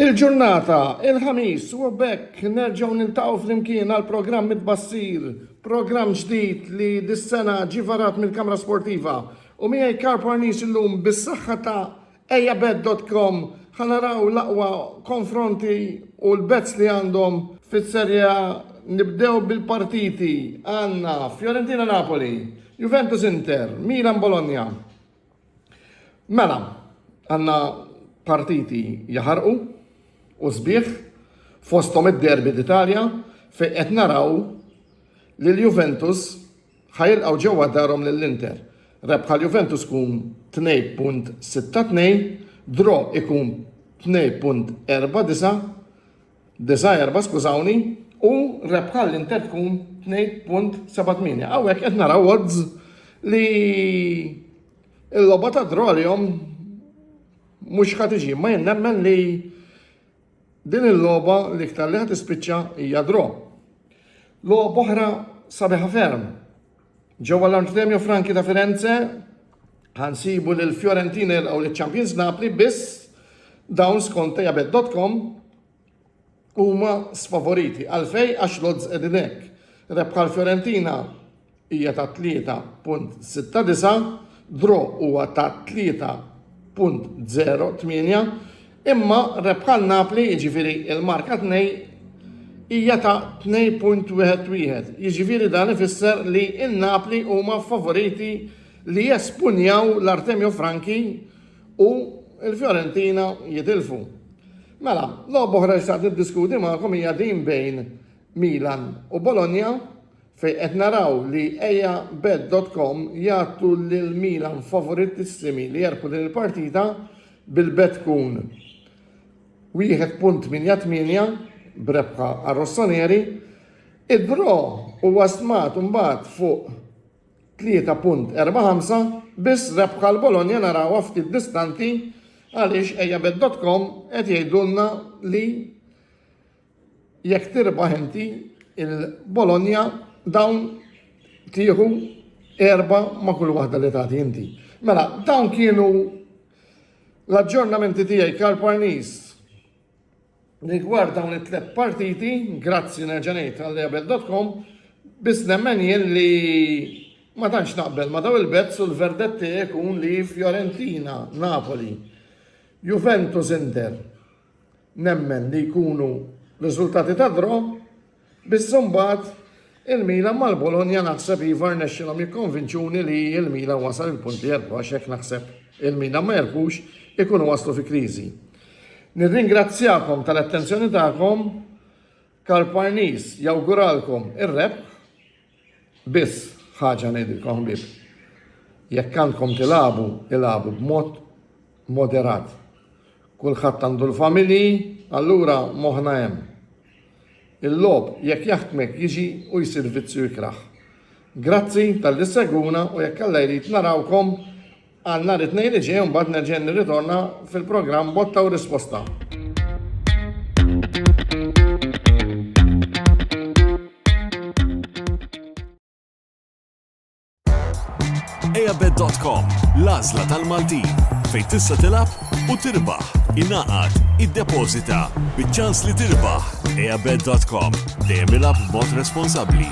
Il-ġurnata, il-Ħamis, u b'hekk nerġgħu niltaqgħu flimkien għal programm it-tbassir, programm ġdid li dis-sena ġie varat mill-Kamra Sportiva. U miegħi Karl Parnis illum bis-saħħa ta' ejabet.com ħa naraw l-aqwa konfronti u l-bets li għandhom fis-Serje A. Nibdew bil-partiti għandna Fiorentina Napoli, Juventus Inter, Milan Bologna. Mela, għandna partiti jaħarqu u sbieħ fosthom id-derbi d'Italja fejn qed naraw li l-Juventus ħajilqgħu ġewwa darhom lill-Inter. Rebħa l-Juventus tkun 2.62, draw ikun 2.49, Disa' erba' skużawni, u rebħa l-Inter tkun 2.78. Hawnhekk qed naraw odds li l-logħba ta' draw għalihom mhux ħadd iġi, ma jien nemmen li din il-logħba l-iktar li ħadd ispiċċa hija draw. Logħba oħra sabiħa ferm Ġewwa l-Armstremio Franchi ta' Firenze ħansibu lil Fiorentina jilqgħu liċ champions Napli biss dawn skont tejabet.com huma sfavoriti għalfej għax lodz qegħdin hekk. Rebħa l-Fiorentina hija ta' 3.69, draw huwa ta' 3.08, Imma rebħa l-Napli, jiġifieri l-marka tnej, hija ta' 2.11, jiġifieri dan ifisser li n-Napli huma ffavoriti li jespunjaw l-Artemio Franchi u l-Fiorentina jitilfu. Mela, logħba oħra li xtaqt niddiskuti magħkom hija din bejn Milan u Bologna fejn qed naraw li eja bet.com jagħtu lil Milan favoritissimi li jerbħu din il-partita bil-bet tkun 1.88 b'rebħa għar-Rossoneri, id-draw huwa stmat imbagħad fuq 3.45 biss rebħa l-Bologna narawha ftit distanti għaliex ejjabet.com qed jgħidulna li Jekk tirbaħ inti il-Bologna dawn tieħu erba' ma' kull waħda li tagħti inti. Mela, dawn kienu l-aġġornamenti tiegħi Karl Parnis rigward dawn it-tlet partiti, grazzi nerġanejt għall-ebel.com, bis nemmen jien li ma tantx naqbel ma daw il-bezz u l-verdetti jkun li Fiorentina, Napoli, Juventus Inter. Nemmen li jkunu riżultati ta' draw, biss imbagħad il-Milan mal-Bologna naħseb iva rnexxielhom jikkonvinċuni li l-Milan wasal il-punt li jerbaħ għax hekk naħseb il-Milan ma jerbħux ikunu waslu fi kriżi. Nirringrazzjakom tal-attenzjoni tagħkom Karl Parnis jawguralkom ir-rebħ Biss ħaġa ngħidilkom ħbieb, jekk għandkom tilagħbu, ilagħbu b'mod moderat. Kulħadd għandu l-familji, allura moħħna hemm. Il-logħob jekk jaħkmek jiġi u jsir vizzju ikrah. Grazzi talli ssegwuna u jekk Alla jrid narawkom Għal nhar it-Tnejn li ġej mbagħad nerġa' nirritorna fil-programm Botta u Risposta. Ejabed.com, l-azla tal-Maltin, fejn tista' tilab u tirbaħ, inaqat, id-deposita, bieċans li tirbaħ. Ejabed.com, dejjem ilab b'mod responsabbli.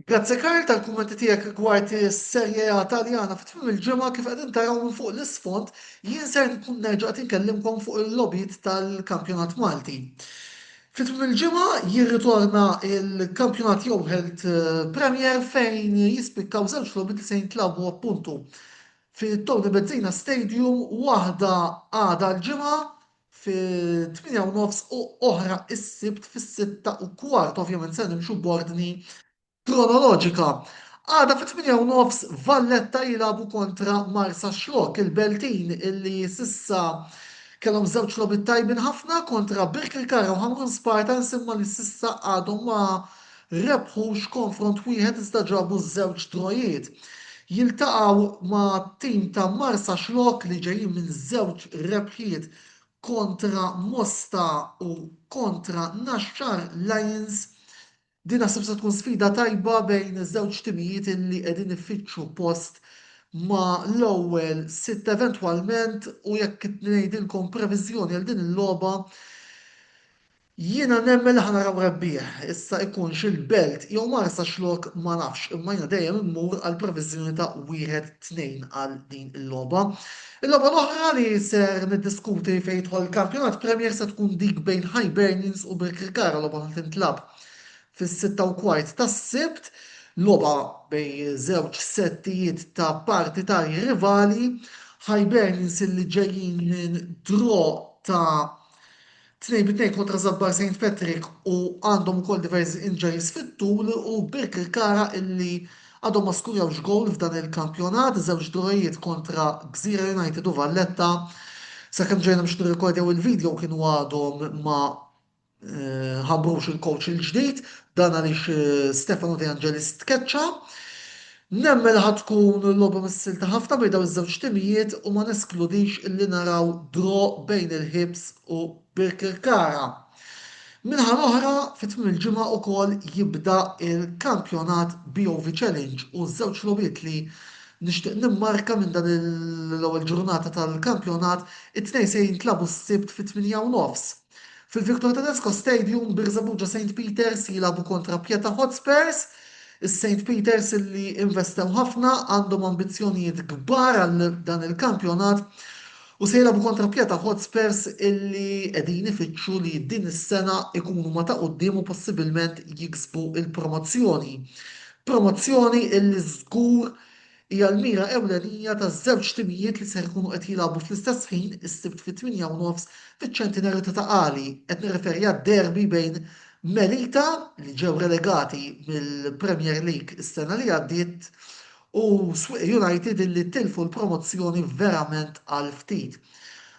Grazzi Karl tal-kummenti tiegħek rigward is-Serie A Taljana fi tmiem il-ġimgħa kif qegħdin taraw minn fuq l-isfond jien ser nkun nerġa' qed inkellimkom fuq il-logħbiet tal-Kampjonat Malti. Fi tmiem il-ġimgħa jirritorna l-Kampjonat Youhealth Premier fejn jispikkaw żewġ logħbiet li se jintlagħbu appuntu fi Tony Bezzina Stadium waħda għada l-Ġimgħa fit-tmienja u nofs u oħra s-Sibt fis-sitta u kwart, ovvjament se nimxu b'ordni kronoloġika. Għada fit-tmienja u nofs Valletta jilagħbu kontra Marsaxlokk, il-Beltin illi s'issa kellhom żewġ logħbiet tajbin ħafna kontra Birkirkara u Ħamrun Spartans imma li s'issa għadhom ma rebħux konfront wieħed iżda ġabu żewġ drojiet. Jiltaqgħu ma' tim ta' Marsaxlokk li ġejjin minn żewġ rebħiet kontra Mosta u kontra Naxxar Lions. Din naħseb se tkun sfida tajba bejn żewġ timijiet illi qegħdin ifittxu post ma' l-ewwel sitt eventwalment u jekk ngħidilkom previżjoni għal din il-logħba Jiena nemmen li ħa naraw rebbieħ, issa ikunx il-Belt jew Marsa x'lok ma nafx imma jiena dejjem immur għal previżjoni ta' wieħed tnejn għal din il-logħba. Il-logħba l-oħra li ser niddiskuti fejn jidħol il-Kampjonat Premier se tkun dik bejn Hibernians u Birkirkara logħba li tintlagħab fis-sitta u kwart tas-Sibt, logħba bejn żewġ settijiet ta' partitarji rivali, Hibernians illi ġejjin minn draw ta' Tnejn bi tnejn kontra Żabbar Saint Patrick u għandhom ukoll diversi injuries fit-tul u Birkirkara illi għadhom ma skurjawx gowl f'dan il-kampjonat, żewġ drawijiet kontra Gżira United u Valletta. Sakemm ġejna biex nirrikordjaw il-video kienu għadhom ma ħabbrux il-coach il-ġdid, dan għaliex Stefano De Angelis tkeċċa. Nemmen li ħa tkun logħba missilta ħafna bejn dawn iż-żewġ timijiet u ma neskludix illi naraw draw bejn il-Hibs u Birkirkara. Min-naħa l-oħra, fi tmiem il-ġimgħa ukoll jibda l-kampjonat BOV Challenge u ż-żewġ logħbiet li nixtieq nimmarka minn dan l-ewwel ġurnata tal-kampjonat, it-tnejn se jintlagħbu s-Sibt fit-tmienja u nofs. Fil-Victor Tedesco Stadium, Birżebbuġa St Peters jilagħbu kontra Pieta Hotspurs. Is-St Peters illi investew ħafna għandhom ambizzjonijiet kbar għal dan il-kampjonat u se jilagħbu kontra Pieta Hotspurs illi qegħdin ifittxu li din is-sena jkunu ma' ta' quddiem u possibilment jiksbu l-promozzjoni. Promozzjoni illi żgur hija l-mira ewlenija taż-żewġ timijiet li ser ikunu qed jilagħbu fl-istess ħin is-Sibt fit-tmienja u nofs fiċ-Ċentinarju ta' Ta' Qali, qed nirreferi għad-derby bejn Melita, li ġew relegati mill-Premier League is-sena li għaddiet, u Swieqi United illi tilfu l-promozzjoni verament għal ftit.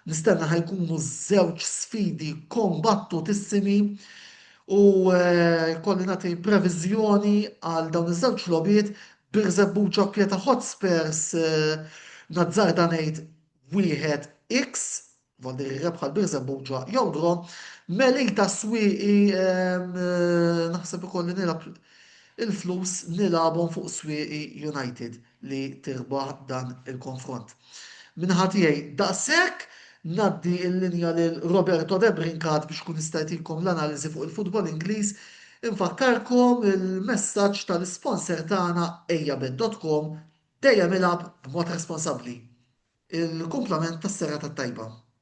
Nistenna ħa jkunu żewġ sfidi kombattutissimi u jkolli nagħti previżjoni għal dawn iż-żewġ logħbiet Birżebbu ġokle ta' Hotspurs, nazzarda ngħid wieħed X, bħal dik ir-rebħa l-Birżebbu ġo Jongro. Melita Swieqi, naħseb ikolli nilgħab il-flus nilgħabhom fuq Swieqi United li tirbaħ dan il-konfront. Min-naħa tiegħi daqshekk, ngħaddi l-linja lil Roberto De Brincat biex ikun jista' jtikom l-analiżi fuq il-futbol Ingliż. Infakkarkom il-messaġġ tal-isponsor tagħna Ejjabet dot com, Dejjem ilgħab b'mod responsabbli. Il-kumplament tas-serata t-tajba.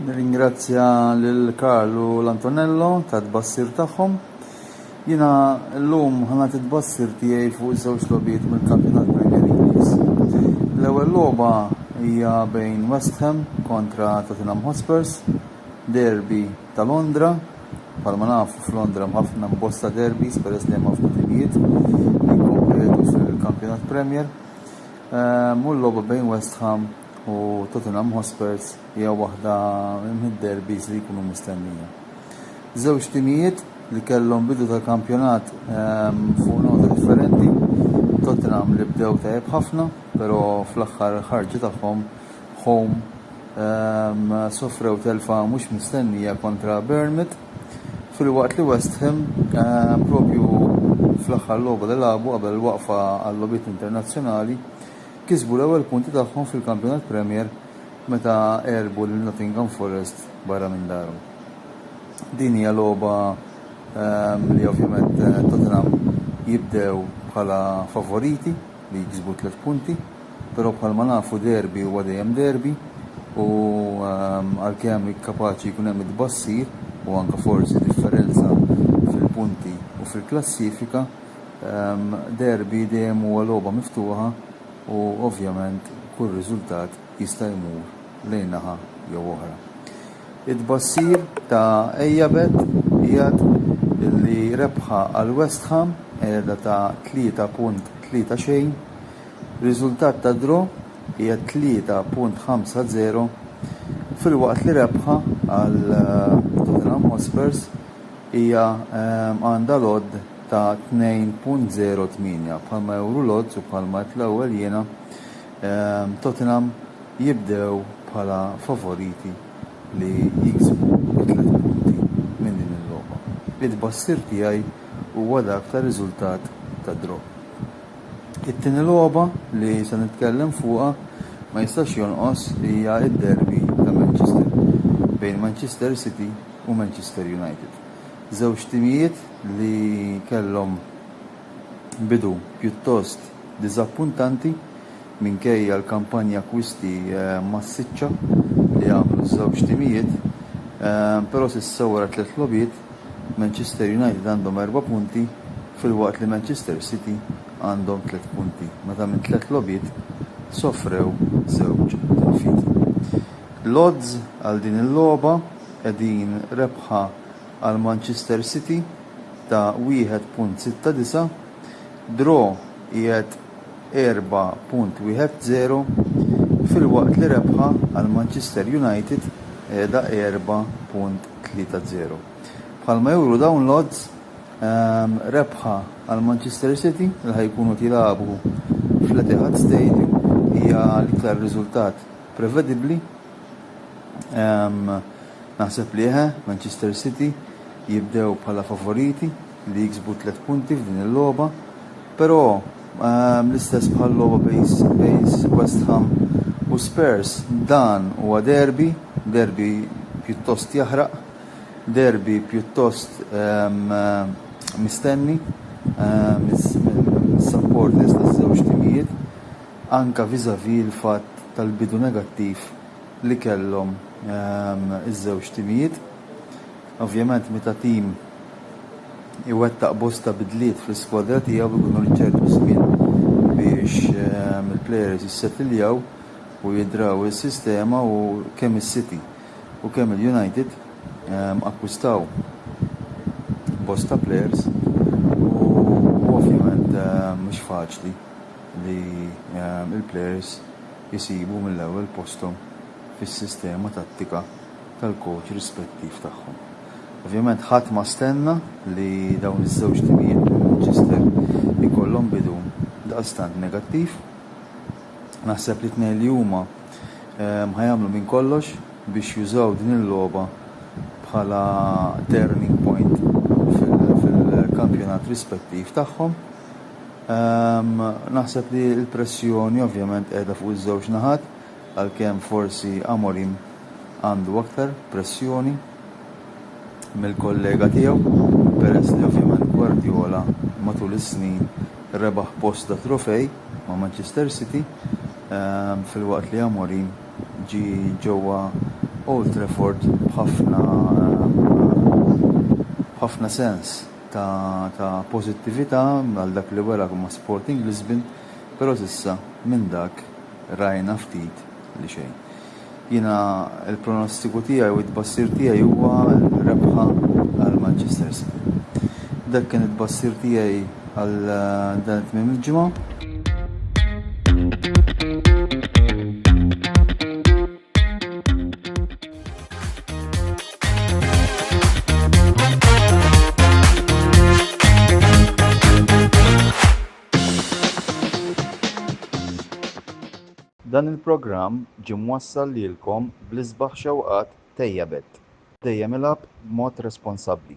Nirringrazzja lil Karl u l-Antonello ta' tbassir tagħhom. Jiena llum ħana titbassir tiegħi fuq żewġ logħbiet mill-Kampjonat Premier Ingliż. L-ewwel logħba hija bejn West Ham kontra Tottenham Hotspurs, derby ta' Londra, bħalma nafu f'Londra hemm ħafna bosta derbies peress li hemm ħafna timijiet li jikkompetu fil-Kampjonat Premier. Mhu l-logħba bejn West Ham u Tottenham Hotspurs hija waħda mid-derbies li jkunu mistennija. Żewġ timijiet li kellhom bidu ta' kampjonat fuq nota differenti. Tottenham li bdew tajjeb ħafna, però fl-aħħar ħarġa tagħhom home sofrew telfa mhux mistennija kontra Bournemouth. Filwaqt li West Ham, propju fl-aħħar logħba li lagħbu qabel il-waqfa għal-logħbiet internazzjonali, kisbu l-ewwel punti tagħhom fil-Kampjonat Premier meta għelbu lil Nottingham Forest barra minn darhom. Din hija logħba li ovvjament Tottenham jibdew bħala favoriti. li jiksbu tliet punti, però bħalma nafu derby huwa dejjem derby u għalkemm kapaċi jkun hemm it-tbassir u anke forsi differenza fil-punti u fil-klassifika, derby dejjem huwa logħba miftuħa u ovvjament kull riżultat jista' jmur lejn naħa jew oħra. It-tbassir ta' Eijabet jgħid li rebħa għal West Ham, qegħda ta' 3.30, riżultat ta' draw, qiegħed 3.50, filwaqt li rebħa għal Tottenham Hotspurs hija għandha l-odd ta' 2.08. Bħalma juru l-odds u bħalma għedt l-ewwel jiena, Tottenham jibdew bħala favoriti li jiksbu t-tliet punti minn din il-logħba. It-tbassir tiegħi huwa dak ta' riżultat ta' draw. It-tieni logħba li se nitkellem fuqha ma jistax jonqos hija d-derby ta' Manchester bejn Manchester City u Manchester United. Żewġ timijiet li kellhom bidu pjuttost diżappuntanti minkejja l-kampanja akkwisti massiċċa li għamlu ż-żewġ timijiet, però s'issa wara tliet logħbiet, Manchester United għandhom erba' punti filwaqt li Manchester City għandhom tliet punti meta minn tliet logħbiet sofrew żewġ tilfiet. L-odds għal din il-logħba qegħdin rebħa għal Manchester City ta' 1.69. draw qiegħed 4.10 filwaqt li rebħa għal Manchester United qiegħda 4.30. Bħalma juru dawn l-odds, rebħa għal Manchester City li ħa jkunu qed jilagħbu fl-Etihad Stadium hija l-iktar riżultat prevedibbli. Naħseb li eħe, Manchester City jibdew bħala favoriti. li jiksbu tliet punti f'din il-logħba, però l-istess bħal-logħba bejn West Ham u Spurs, dan huwa derby, derby pjuttost jaħraq, derby pjuttost mistenni mis-supporters taż-żewġ timijiet, anke vis-à-vis l-fatt tal-bidu negattiv li kellhom iż-żewġ timijiet. Ovvjament meta tim iwettaq bosta bidliet fl-iskwadra tiegħu jkunu rrid ċertu żmien biex il-plejers jissettiljaw u jidraw is-sistema u kemm is-City u kemm il-United akkwistaw bosta plejers u ovvjament mhux faċli li l-plejers isibu mill-ewwel posthom fis-sistema tattika. tal-kowċ rispettiv tagħhom. Ovvjament ħadd ma stenna li dawn iż-żewġ timijiet minn Manchester ikollhom bidu daqstant negattiv. Naħseb li t-tnejn li huma ħa jagħmlu minn kollox biex jużaw din il-logħba bħala turning point fil-kampjonat rispettiv tagħhom. Naħseb li l-pressjoni ovvjament qiegħda fuq iż-żewġ naħat. għalkemm forsi Amorim għandu aktar pressjoni mill-kollega tiegħu peress li ovvjament Guardiola matul is-snin rebaħ bosta trofej ma' Manchester City filwaqt li Amorim ġie ġewwa Old Trafford b'ħafna b'ħafna sens ta' ta' pożittività għal dak li wera ma' Sporting Lisbon. Però s'issa minn dak rajna ftit li xejn. Jiena l-pronostiku tiegħi u t-tbassir tiegħi huwa rebħa għal Manchester City. Dak kien it-tbassir tiegħi għal dan it-tmiem il-ġimgħa. Dan il-programm ġie mwassal lilkom bl-isbaħ xewqat Tejjabet, dejjem ilgħab b'mod responsabbli.